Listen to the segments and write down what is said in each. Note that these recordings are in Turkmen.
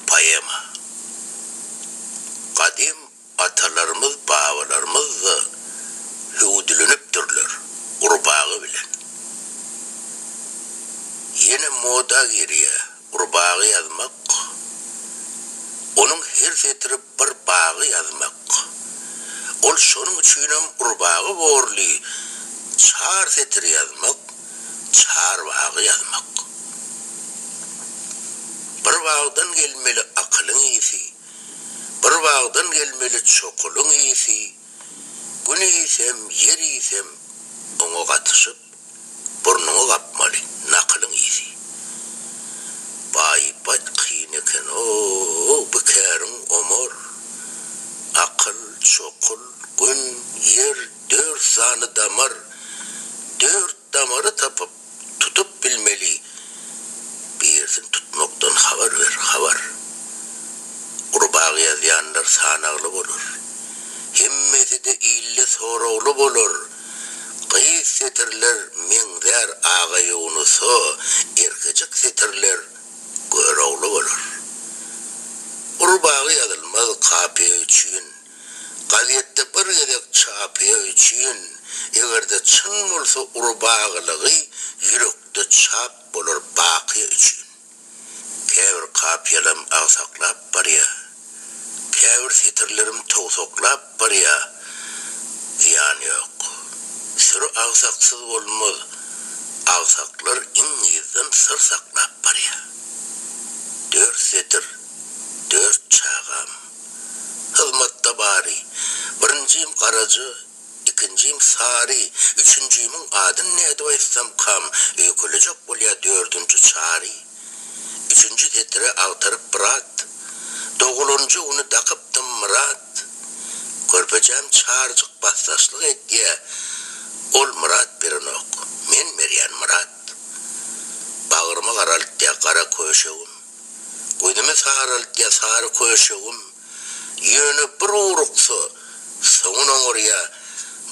Poema. Gadym atalarymyz, babalarymyz-da hüwdülenipdirler gurbaga bilen. Ýene moda girýär gurbaga ýazmak. Onuň her setiri Bir bagy ýazmak. Ol şonuň üçinem urbagy borly çar setir ýazmak, çar bagy ýazmak. Bir bagdan gelmeli akylyň isi, Bir bagdan gelmeli çokulyň isi, Gün isem, ýer isem oňa gatyşyp, Burnuňy gapmaly, nakylyň ýiti. Baýbat kyn eken-ow, bikeriň Omar. Akyl, çokul, gün, ýer, dört sany damar. Dört damary tapyp, tutup bilmeli. Birisini tutmakdan habar ber, habar. Gurbaga ýazýanlar sanagly bolar. Hemmesi-de illi soragly bolar. Gyz setirler meňzär aga Ýunusa, erkejik setirler Görogly bolar. Uly bagy ýazylmaz kapyýa üçin, Gazetde bir gezek çapyýa üçin, Eger-de çyn bolsa uly bagylygy Ýürekde çap bolar bakyýa üçin. Käbir kapiýalam agsaklap barýa. Käbir setirlerim towsaklap barýa. Zyýan ýok. Süri agsaksyz bolmaz. Agsaklar iň yzdan syr saklap barýa. Dört setir, dört çagam. Hyzmatda bary, birinjim garaja, Ikinjim Sary, üçünjimiň adyn nädip aýtsam kam, öýkelejek bolýa dördünji Çary, üçünji setiri agtaryp brat, dogulanjy güni dakypdym Myrat, körpejem Çaryjyk basdaşlyk etýä, ol Myrat berenok, men berýän Myrat, bagrymy garaltýa gara köşegim, gözümi saraltýa sary köşegim, Ýöne bir uruksa, soňun oňarýa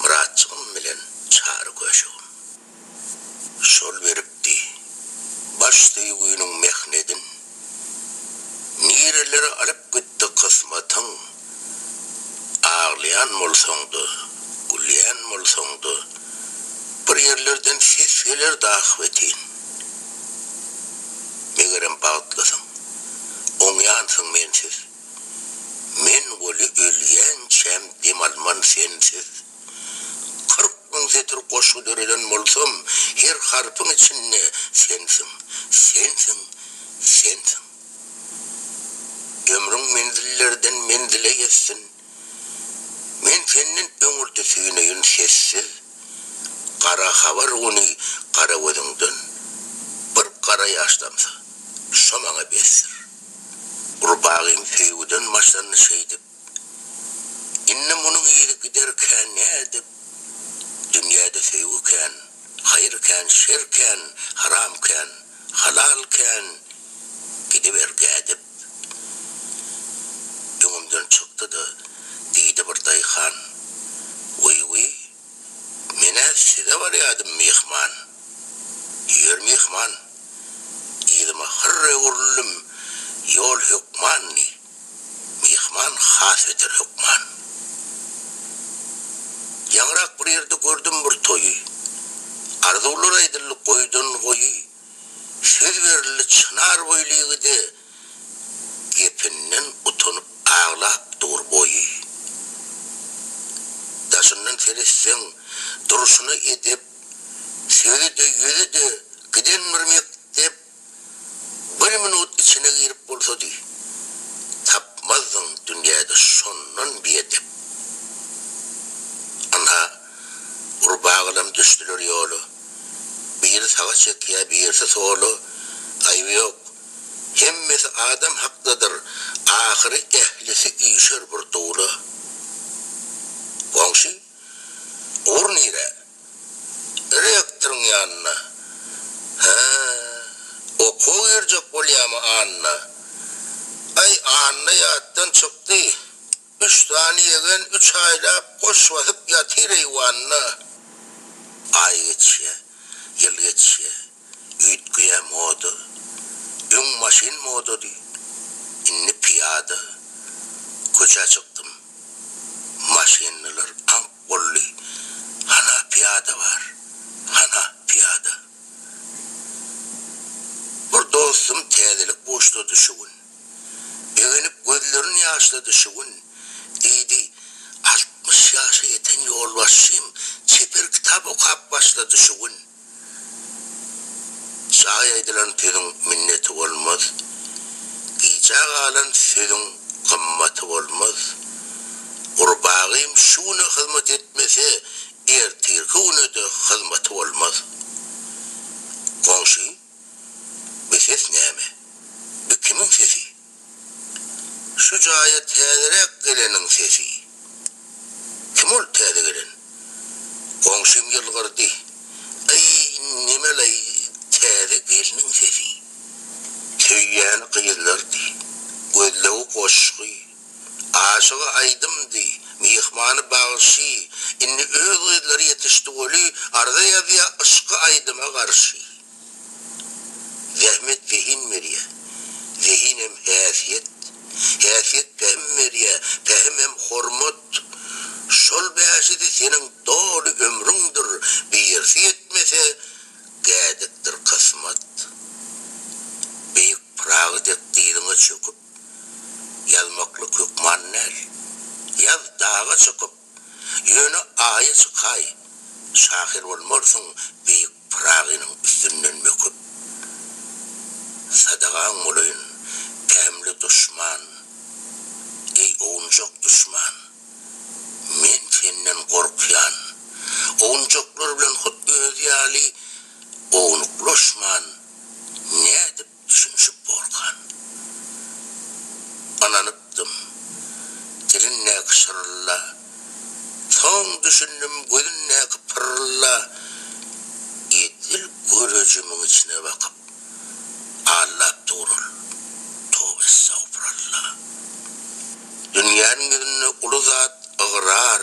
Myratjygym bilen Çary göşegim. Şol beripdi baş söýginiň mehnedin. Nirelere alyp gitdi kysmatyň. Aglaýan bolsaň-da, gülýän bolsaň-da, bir ýerlerden ses gelerdi ahbetin. Megerem bagtlysyň. Oňýansyň mensiz. Men weli ölýänçäm dem alman sensiz. Kyrk müň setir goşgy döreden bolsam, her harpyň içinde sensiň, sensiň, sensiň. Ömrüň menzillerden menzile ýetsin. Men senden öňürti süýneýin sessiz gara habar ony gara gözüňden bir gara ýaş damsa şo maňa besdir Ol bagym söýgüden başlandy şeýdip Indi munuň yzy gider kä nädip Dünýäde söýgi kän haýyr kän şer kän Haram kän halal kän gidiber gädip. Öňümden çykdy-da, diýdi bir daýhan, Wiý-wiý, men-ä size barýardym myhman. Ýör myhman, yzyma hyrr öwrüldim, ýol hökman, diý. Myhman has beter hökman. Ýaňyrak bir ýerde gördüm bir toýy, Arzuwlar aýdyldy goýdan-goýy. Söz berildi çynar boýly ýigide, Gepinden utanyp aglap dur boýy. Daşyndan seretseň, durşuna edep, Sözi-de, ýüzi-de giden bir mekdep, Bir minut içine girip bolsady, Tapmazdyň dünýäde şondan biedep. Ynha, Gurba gylam düşdüler ýola. Biri saga çekýär, birisi sola. Aýby ýok. Hemmesi adam hakdadyr. Ahyry ählisi üýşer bir dula. Goňşy, Ugur nirä? Rektoryň ýanyna. Hä, okuwa girjek bolýamy Anna? Aý, Anna ýatdan çykdy. Üç sany ýegen üç aýlap goş basyp ýatyr eýwanda. Aý geçýä, ýyl geçýä, üýtgeýä moda. Öň maşyn modady, indi pyýada. Köçä çykdym, maşynlylar aňk boldy. Hana pyýada bar, hana pyýada. Bir dostum täzelik buşlady şu gün. Egenip gözlerini ýaşlady şu gün. Diýdi, Altmyş ýaşa ýeten ýolbaşçym çeper kitap okap başlady şu gün. Jaý aýdylan sözüň minneti bolmaz, Gijä galan sözüň gymmaty bolmaz. Gurbagym şu güne hyzmat etmese, Ertirki güne-de hyzmaty bolmaz. Goňşy. Bu ses näme? Bu kimiň sesi? Şu jaýa täzeräk geleniň sesi. Kim ol täze gelen? Goňşym ýylgyrdy. Aý, neme-laý täze gelniň sesi. Söýýäni gyzlardy. Gözlegi goşgy. Aşygy aýdymdy, myhmany bagşy, Indi öz gyzlary ýetişdi goly, Arza ýazýa yşky aýdyma garşy. Zähmet zehin berýä, zehinem häsiýet, Häsiýet pähim berýä, pähimem hormat. Şol bäşisi seniň doly ömrüňdir, Birisi ýetmese, gädikdir kysmat. Beýik Pyragy dek dyzyňa çöküp, Ýazmaklyk hökman näl. Ýaz daga çykyp, ýöne aýa çykaý, şahyr bolmarsyň beýik Pyragynyň üstünden möküp. Sadagaň bolaýyn, pähimli duşman, eý, owunjak duşman! Men senden gorkýan. Owunjaklar bilen hut özi ýaly ownuklaşman, nädip Düşünişip bolkan. Ynanypdym. Dilindäki şyrrylla. Soň düşündim gözündäki pyrrylla. Edil görejimiň içine bakyp. Allap dur ol. Towbessagfuralla. Dünýäniň ýüzünde uly zat ygrar.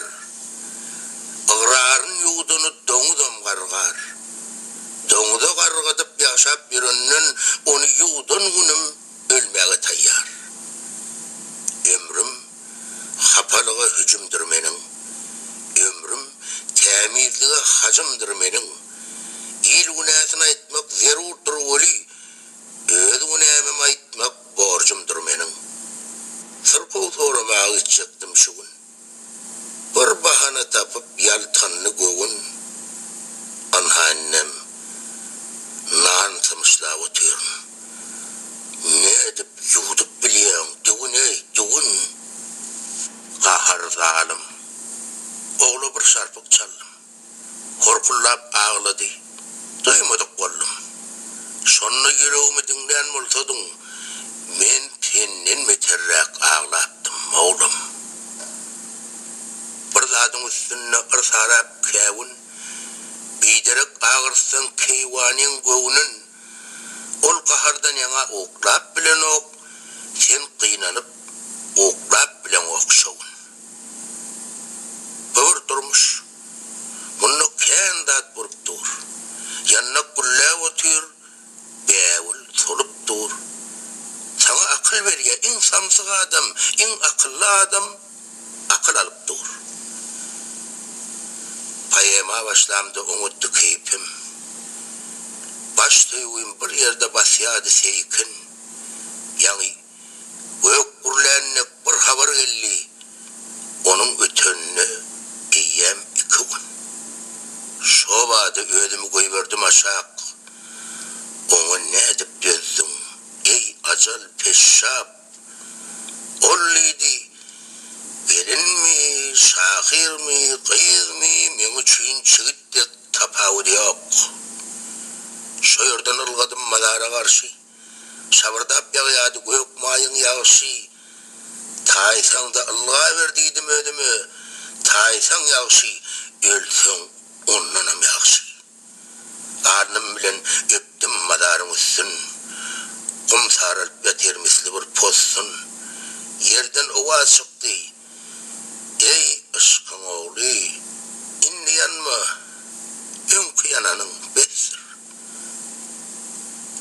Ygraryn ýuwdany doňuzam gargar. Doňuza gargadyp ýaşap ýörenden ony ýuwdan günüm ölmäge taýýar. Ömrüm hapalyga hüjümdir meniň. Ömrüm tämizlige hajymdyr meniň. Il günäsini aýtmak zerurdyr weli, öz günämem aýtmak borjumdyr meniň. Syrkaw soramaga gitjekdim şu gün. Bir bahana tapyp ýaltandy göwün, Ynha indem nan symyşlap otyryn. Nädip ýuwdup bilýäň, düwün-eý, düwün! Gahar zalym ogla bir şarpyk çaldym. Horkullap aglady. Duýmadyk boldum. Şonda ýüregimi diňlän bolsadyň, men senden beterräk aglapdym, oglan. Bir zadyň üstünde yrsarap käwün, biderek agyrtsaň keýwanyň göwnün. Ol gahardan ýaňa oklap bilenok, sen gynanyp oklap bileňok şowun. Bu bir durmuş. Munda kän zat bolup dur. Ýandak gülläp otyr, bägül solup dur. Saňa akyl berýä iň samsyk adam, iň akylly adam. akyl alyp dur. Poema başlamda oňatdy keýpim. Baş söýgim bir ýerde basýardy seýkin. Ýaňy gök gürlän dek bir habar geldi, onuň ötenine eýýäm iki gün. Şobada özümi goýberdim aşak. Oňa nädip dözdüň, eý, ajal, peşşap? Ol diýdi, Gelinmi, şahyrmy, gyzmy, meň üçin çigit dek tapawudy ýok. Şo ýerden ylgadym mazara garşy. Şabyrdap ýagýardy gök maýyň ýagşy. Taýsaň-da ylgaber diýdim özüme, Taýsaň ýagşy, ölseň ondanam ýagşy. Garnym bilen öpdüm mazaryň üstün, Gum saralyp ýatyr misli bir possun. Ýerden owaz çykdy, Eý, yşkyň ogly, indi ýanma, Öňki ýananyň besdir.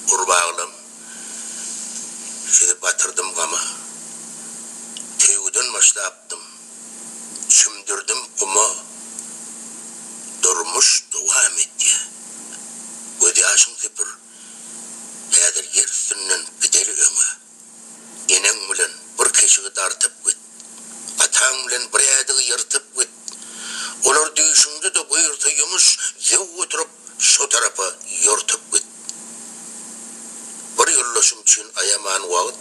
Gurbaglam, sizi batyrdym gama, Söýgüden başlapdym. Çümdürdim guma Durmuş dowam etýä Göz ýaşyň süpür Häzir ýer üstünden Gideli öňe Eneň bilen bir keşigi dartyp git Ataň bilen bir ädigi ýyrtyp git Olar düýşüňde-de buýursa ýumuş Ýew oturyp şo tarapa ýortup git Bir ýoldaşym üçin aýaman wagt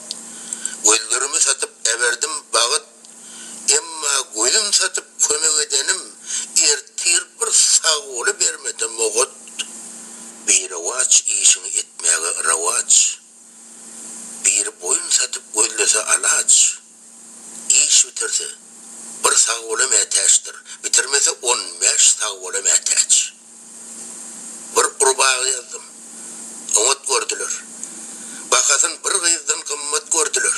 Gözlerimi satyp äberdim bagyt Emma gözüm satyp kömek edenim ertir bir sagboly bermedem ogat birewaç işiňi etmäge rawaç biri boýun satyp gözlese alaç iş bitirse bir sagbola mätäçdir bitirmese on bäş sagbola mätäç. Bir gurbaga ýazdym. Oňat gördüler. Bahasyn bir gyzdan gymmat gördüler.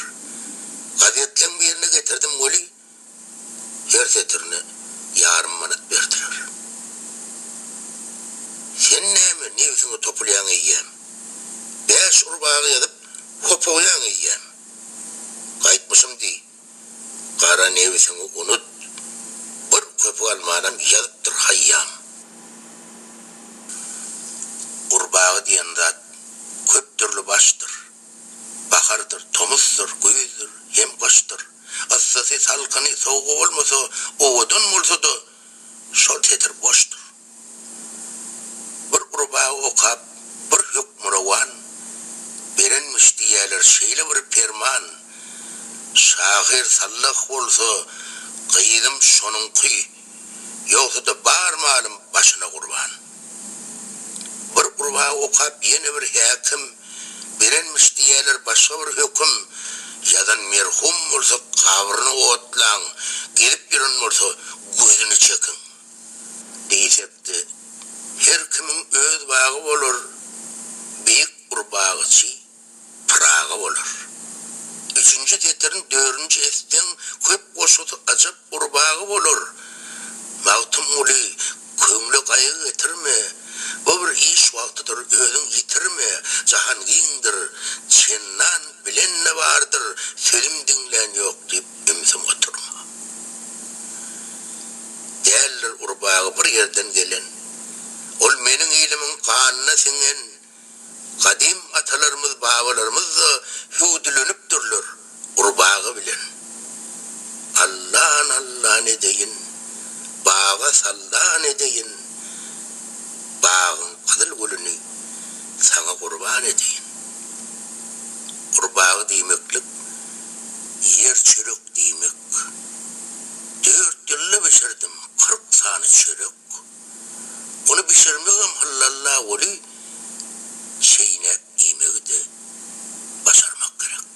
Gazetleň birine getirdim weli, her setirine ýarym manat berdiler. Sen näme nebsiňi topulýaň eýýäm? Bäş urbaga ýazyp hopugýaň eýýäm? Gaýtmyşym diý. Gara nebsiňi unut, bir köpük almanam ýazypdyr Haýýam. Gurbaga diýen zat köp dürli başdyr. Bahardyr, tomusdyr, güýzdür, hem gyşdyr. Yssysy, salkyny, sowugy bolmasa, owadan bolsa-da, şol setir boşdur. Bir gurba okap bir hökmürowan, berenmiş diýýäler şeýle bir perman, Şahyr sallah bolsa, gyzym şonuňky, ýogsa-da bar malym başyna gurban. Bir gurba okap ýene bir häkim, berenmiş diýýäler başga bir höküm, Ýazan merhum bolsa, gabryny otlaň, gezip ýören bolsa, gözüni çekiň. Diýjekdi, Her kimiň öz bagy bolar, Beýik bir bagyçy Pyragy bolar. Üçünji setirin dörünji etseň, Köp goşgusy ajap Gurbagy bolar. Magtymguly, Köňle gaýgy getirme, Bu bir iş wagtydyr, özüň ýitirme, Jahan giňdir, çendan bilen-de bardyr, Sözüm diňlän ýok diýip, Ümsüm oturma. Däldir gurbagy bir ýerden gelen. Ol meniň ilimiň ganyna siňen. Gadym atalarymyz, babalarymyz-da hüwdülenipdirler gurbagy bilen. Allan allan edeýin, baga sallan edeýin, bagyň gyzyl gülüni saňa gurban edeýin. Gurbagy diýmeklik Ýer çörek diýmek. Dört ýylda bişirdim kyrk sany çörek. Ony bişirmegem hyllalla weli, çeýnäp iýmegi-de başarmak gerek.